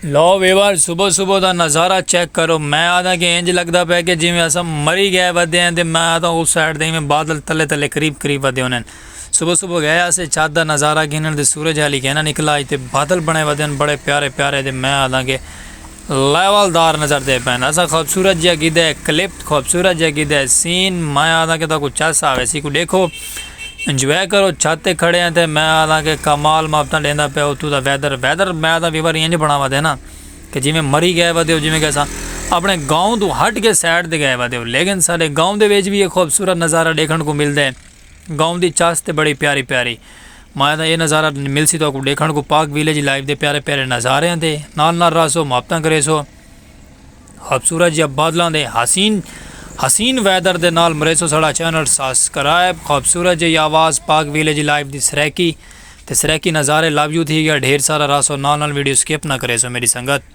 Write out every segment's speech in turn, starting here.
لو viewer صبح صبح دا نظارہ چیک کرو میں آدھا کہ انج لگدا پیا کہ جویں اساں مری گئے ودے ہیں تے میں آدھا اس سائیڈ تے ایویں بادل تلے تلے قریب قریب ودے ہونے ہن صبح صبح گئے آسے چھت دا نظارہ گھنن تے سورج حالی کینا نکلا اج تے بادل بنے ودے ہن بڑے پیارے پیارے تے میں آدھا کہ لیول دار نظر دے پین اساں خوبصورت جیا کیتے کلپ خوبصورت جیا کیتے سین میں آدھا کہ تاکو چس آوے سی کو ڈیکھو انجوائے کرو چھت تے کھڑے ہیں تے میں آدھاں کہ کمال مابتاں ڈیندا پیا اتھوں دا ویدر ویدر میں آدھاں وی واری انج بناوا دے نا کہ جیویں مری گئے ودے ہو جیویں کہ اساں اپنے گاؤں توں ہٹ کے سائڈ تے گئے ودے ہو لیکن ساڈے گاؤں دے وچ وی اے خوبصورت نظارہ ڈیکھن کوں ملدے گاؤں دی چاس تے بڑی پیاری پیاری میں آدھاں اے نظارہ ملسی تو اکوں ڈیکھن کوں پاک ویلیج لائف دے پیارے پیارے نظارے ہیں تے نال نال رہسو مابتاں کریسو۔ خوبصورت جیہاں بادلاں دے حسین حسین ویدر دے نال مریسو ساڑا چینل ساسکرائب خوبصورت جیہی آواز پاک ویلیج لائف دی سریکی تے سریکی نظارے لو یو تھی گیا ڈھیر سارا راسو نال نال ویڈیو سکپ نہ کریسو میڈی سنگت۔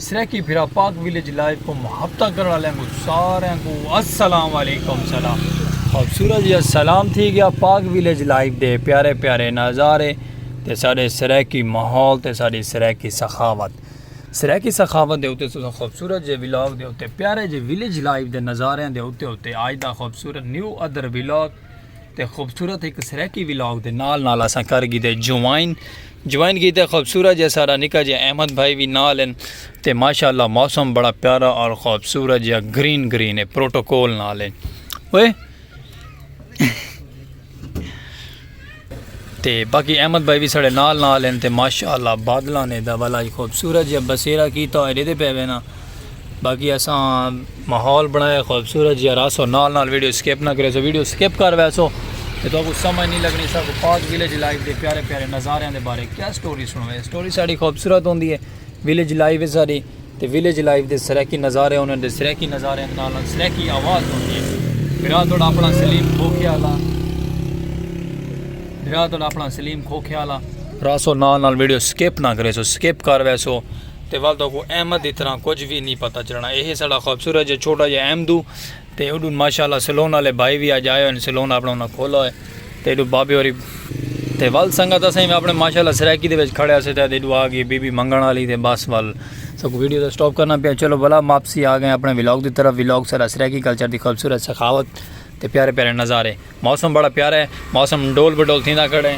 سرائیکی بھرا پاک ویلیج لائیو کو محبتہ کرن والے کو سارے کو السلام علیکم سلام خوبصورت جی سلام تھی گیا پاک ویلیج لائیو دے پیارے پیارے نظارے تے سارے سرائیکی ماحول تے ساری سرائیکی سخاوت سرائیکی سخاوت دے اتے سو خوبصورت جی ویلاگ دے اتے پیارے جی ویلیج لائیو دے نظارے دے اتے اتے آج دا خوبصورت نیو ادر ویلاگ تے خوبصورت ایک سریکی ولاگ دے نال نال اساں کر گی دے جوائن جوائن گی دے خوبصورت جے سارا نکا جے احمد بھائی بھی نال ہیں تے ماشاءاللہ موسم بڑا پیارا اور خوبصورت جے گرین گرین ہے پروٹوکول نال ہیں اوئے تے باقی احمد بھائی وی ساڑے نال نال ہن تے ماشاءاللہ بادلاں نے دا ولا اج خوبصورت جیا بسیرا کیتا ہوئے ڈیدے پے وینا باقی اساں ماحول بنایا خوبصورت جیا راسو نال نال ویڈیو سکپ نہ کرے سو ویڈیو سکپ کر ویسو تے تو کو سمجھ نہیں لگنی سا کو پاک ویلیج لائف دے پیارے پیارے نظاریاں دے بارے کیا سٹوری سنوے سٹوری ساڑی خوبصورت ہوندی ہے ویلیج لائیو ہے ساڈی تے ویلیج لائیو دے سرائیکی نظارے ہوندے ہن تے سرائیکی نظاریاں دے نال نال سرائیکی آواز وی ہوندی ہے۔ بھرا تہاڈا اپنا سلیم کھوکھیالہ۔ بھرا تہاڈا اپنا سلیم کھوکھیالہ۔ راسو نال نال ویڈیو سکپ نہ کریسو سکپ کر ویسو تے ول تہاکوں احمد دی طرح کجھ وی نی پتہ چلنا۔ ایہہ ہے ساڈا خوبصورت جیہا چھوٹا جیہا احمدو۔ تے اوڈوں ماشاء اللہ سیلون آلے بھائی وی اج آئے ہوئے ہن سیلون اپنا انہاں کھولا ہوئے تے ایڈوں بابے ہوری تے ول سنگت اسیں وی اپنے ماشاء اللہ سرائیکی دے وچ کھڑے اسے تے ایڈوں آ گئی بی بی منگن آلی تے بس ول سکو ویڈیو دا سٹاپ کرنا پیا چلو ولا ماپسی آ گئے اپنے ولاگ دی طرف ولاگ سارا سرائیکی کلچر دی خوبصورت سخاوت تے پیارے پیارے نظارے موسم بڑا پیارا ہے موسم ڈول بڈول تھیندا کھڑے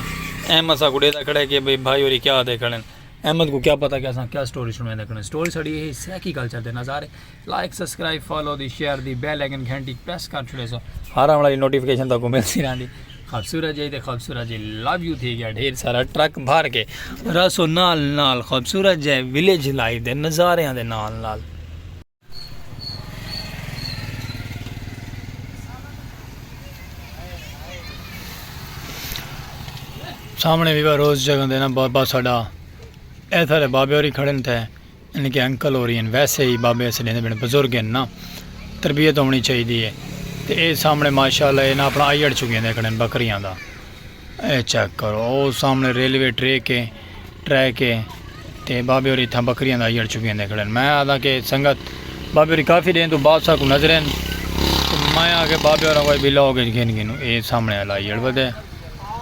احمد سا گڈے دا کھڑے کہ بھائی ہوری کیا دے کھڑے احمد کو کیا پتہ کہ اساں کیا سٹوری سنویں دے کھڑے سٹوری ساڈی ہے سرائیکی کلچر دے نظارے لائک سبسکرائب فالو دی شیئر دی بیل آئیکن گھنٹی پریس کر چھڑے سو ہر آن لائن نوٹیفیکیشن تاکو ملتی رہندی خوبصورت جی تے خوبصورت جی لو یو تھی گیا ڈھیر سارا ٹرک بھر کے رسو نال نال خوبصورت جی ویلیج لائف دے نظاریاں دے نال نال سامنے بھی روز جگہ دینا بابا ساڈا ایسا بابے اور ہی کھڑے تھے انہاں کے انکل ہوری ہن ویسے ہی بابے اسے ڈیندے بڑے بزرگ ہن نا تربیت ہونی چاہیدی ہے تے اے سامنے ماشاءاللہ اے نا اپنا آیڑ چگیندے کھڑن بکریاں دا اے چیک کرو او سامنے ریلوے ٹریک ہے ٹریک ہے تے بابے ہوری اتھاں بکریاں دا آیڑ چگیندے کھڑن میں آدھا کہ سنگت بابے ہوری کافی دین تو بعد ساکوں نظرین میں آکھیا بابے ہوراں کو اے بلاگ اچ گھن گھنوں اے سامنے والا آیڑ ودے۔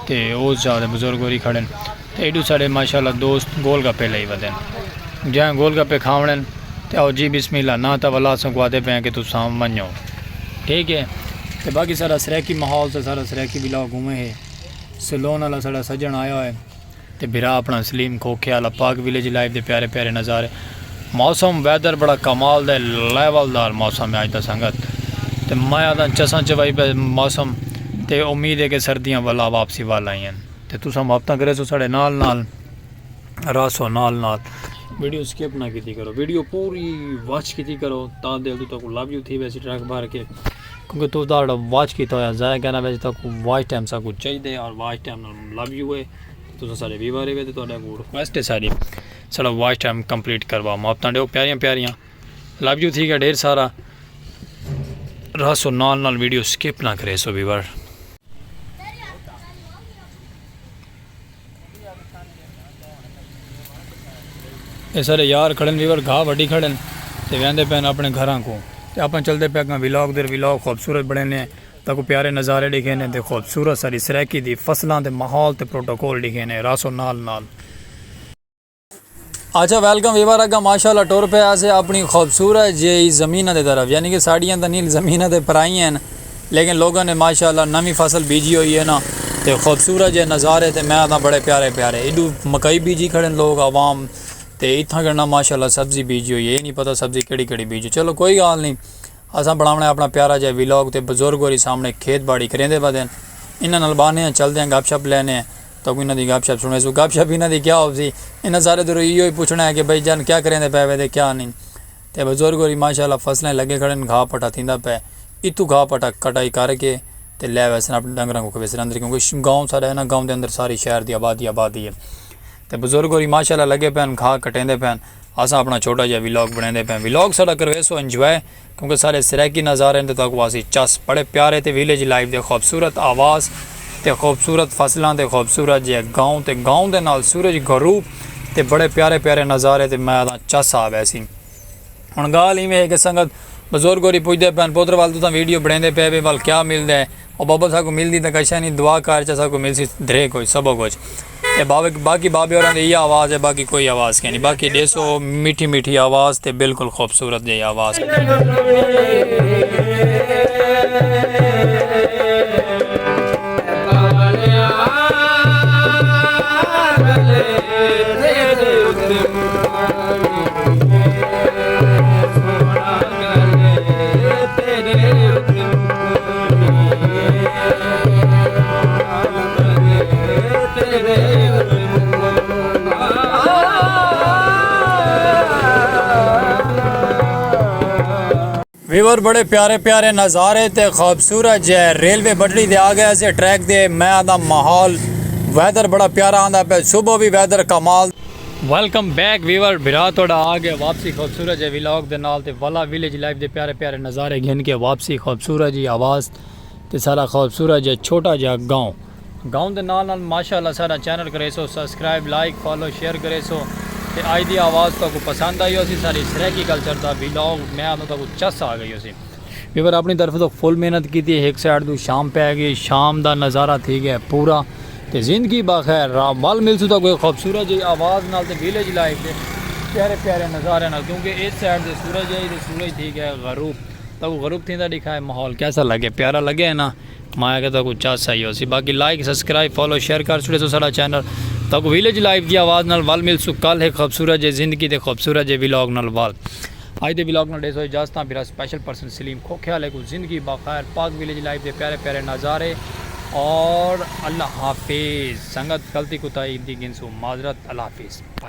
تے او ذات بزرگ ہوری کھڑن تے ایڈو ساڈے ماشاءاللہ دوست گول گپے لئی ودن جئیں گول گپے کھاونڑن تے آؤ جی بسم اللہ ناں تاں ولا اساکوں آدھے پئیں کہ تساں ونجو ٹھیک ہے تے باقی ساڈا سرائیکی ماحول تے ساڈا سرائیکی ولاگ اوویں ہے سلون آلا ساڈا سجن آیا ہوئے۔ تے بھرا اپنا سلیم کھوکھے آلا پاک ویلیج لائف دے پیارے پیارے نظارے موسم ویدر بڑا کمال دا لیول دار موسم ہے اج دا سنگت تے میں آدھاں چساں چوائی پہ موسم تے امید ہے کہ سردیاں ولا واپسی وال آئی ہیں تے تساں محبتاں کرے سو ساڑے نال نال راسو نال نال ویڈیو سکپ نہ کیتی کرو ویڈیو پوری واچ کیتی کرو تاں دل تو تاں کو لابیو تھی ویسی ٹریک بھر کے کیونکہ تس دا جڑا واچ کیتا ہویا ضائع کرنا ویسے تاں کو واچ ٹائم سا کو چاہی دے اور واچ ٹائم نال مطلب یو ہے تساں سارے ویور ہے تے تہاڈا کو ریکویسٹ ہے ساری سارا واچ ٹائم کمپلیٹ کروا ماپ تاں ڈیو پیاریاں پیاریاں لو یو تھی گیا ڈھیر سارا راسو نال نال ویڈیو سکپ نہ کرے سو ویور اے سارے یار کھڑن ویور گھا وڈی کھڑن تے ویندے پین اپنے گھراں کو تے اپن چلدے پے گاں ویلاگ دے ویلاگ خوبصورت بنے نے تا کو پیارے نظارے ڈیکھے نے تے خوبصورت ساری سرائیکی دی فصلاں تے ماحول تے پروٹوکول ڈیکھے نے راسو نال نال اچھا ویلکم ویور اگا ماشاءاللہ ٹور پہ آسے اپنی خوبصورت جے ہی زمینہ دے طرف یعنی کہ ساڑیاں دا نیل زمینہ دے پرائی ہیں لیکن لوگوں نے ماشاءاللہ نمی فصل بیجی ہوئی ہے نا تے خوبصورت جے نظارے تے میں آدھا بڑے پیارے پیارے ایڈو مکائی بیجی کھڑے لوگ عوام تے اتھا گھڑنا ماشاءاللہ سبزی بیجی ہوئی ہے یہ نہیں پتا سبزی کڑی کڑی بیجی چلو کوئی گال نہیں اساں بناونے اپنا پیارا جے ویلوگ تے بزرگ ہوری سامنے کھیت باڑی کریں دے بدن انہاں نلبانے ہیں چل دیں گپ شپ لینے ہیں تکوں انہاں دی گپ شپ سنڑیسوں۔ گپ شپ انہاں دی کیا ہوسی؟ انہاں سارے توں ایہو ہی پچھنا ہے کہ بھئی جان کیا کریندے پئے وے تے کیا نئیں۔ تے بزرگ ہوری ماشاءاللہ فصلاں اچ لگے کھڑے ہن گھا پٹا تھیندا پئے۔ اتھوں گھا پٹا کٹائی کر کے تے لے ویسن اپنے ڈنگراں کوں کھویسن اندر کیونکہ گاؤں ساڈا ہے نا گاؤں دے اندر ساری شہر دی آبادی آبادی ہے۔ تے بزرگ ہوری ماشاءاللہ لگے پئے ہن گھا کٹیندے پئے ہن۔ اساں اپنا چھوٹا جیہا ولاگ بݨیندے پئے ہیں۔ ولاگ ساڈا کرویسو انجوائے۔ کیونکہ سارے سرائیکی نظارے دے تہاکوں آسی چس بڑے پیارے تے ویلیج لائف دے خوبصورت آواز تے خوبصورت فصلاں تے خوبصورت جیہے گاؤں تے گاؤں دے نال سورج غروب تے بڑے پیارے پیارے نظارے تے میں آدھاں چس آ ویسی ہن گالھ ایویں ہے کہ سنگت بزرگ ہوری پوچھدے پئن پتر ول تساں ویڈیو بنڑیندے پئے وے ول کیا ملدے۔ او بابا اساں کوں ملدی تاں کشا نی دعا کار چا ساں کوں ملسی دھرے کچھ سبو کچھ تے باقی بابے ہوراں دی ایہا آواز ہے باقی کوئی آواز کینی باقی ڈیسو میٹھی میٹھی آواز تے بالکل خوبصورت جئی آواز۔ ویور بڑے پیارے پیارے نظارے تے خوبصورت جے ریلوے بٹڑی دے آ گیا سے ٹریک دے میں آدھا ماحول ویدر بڑا پیارا آدھا پہ صبح بھی ویدر کمال ویلکم بیک ویور بھرا توڑا آ گیا واپسی خوبصورت جے ویلاگ دے نال تے والا ویلیج لائف دے پیارے پیارے نظارے گھن کے واپسی خوبصورت جی آواز تے سارا خوبصورت جے چھوٹا جا گاؤں گاؤں دے نال نال ماشاءاللہ سارا چینل کرے سو سبسکرائب لائک فالو شیئر کرے سو تے آج دی آواز تو کو پسند آئی ہو سی ساری سریکی کلچر دا ویلاگ میں آنو تو کو چس آ گئی ہو سی ویور اپنی طرف توں فل محنت کیتی ہک سائیڈ توں شام پے گئی شام دا نظارہ تھی گئے پورا تے زندگی باخیر را ول ملسوں تاں کوئی خوبصورت جئی آواز نال تے ویلیج لائف دے پیارے پیارے نظارے نال کیونکہ اس سائیڈ تے سورج ہے تے سورج تھی گئے غروب تاں غروب تھیندا ڈیکھائے ماحول کیسا لگے پیارا لگے ہے نا ماں آکھیا تہاکوں چس آئی ہوسی باقی لائک سسکرائب فالو شیئر کر چھوڑے سو ساڈا چینل تہاکوں ویلج لائف دی آواز نال ول ملسوں کل ہک خوبصورت جے زندگی دے خوبصورت جے ولاگ نال ول اج دے ولاگ نال ڈیسو اجازتاں بھرا سپیشل پرسن سلیم کھوکھے آلے کوں زندگی باخیر پاک ویلج لائف دے پیارے پیارے نظارے اور اللہ حافظ سنگت غلطی کوتاہی دی گھنسوں معذرت اللہ حافظ.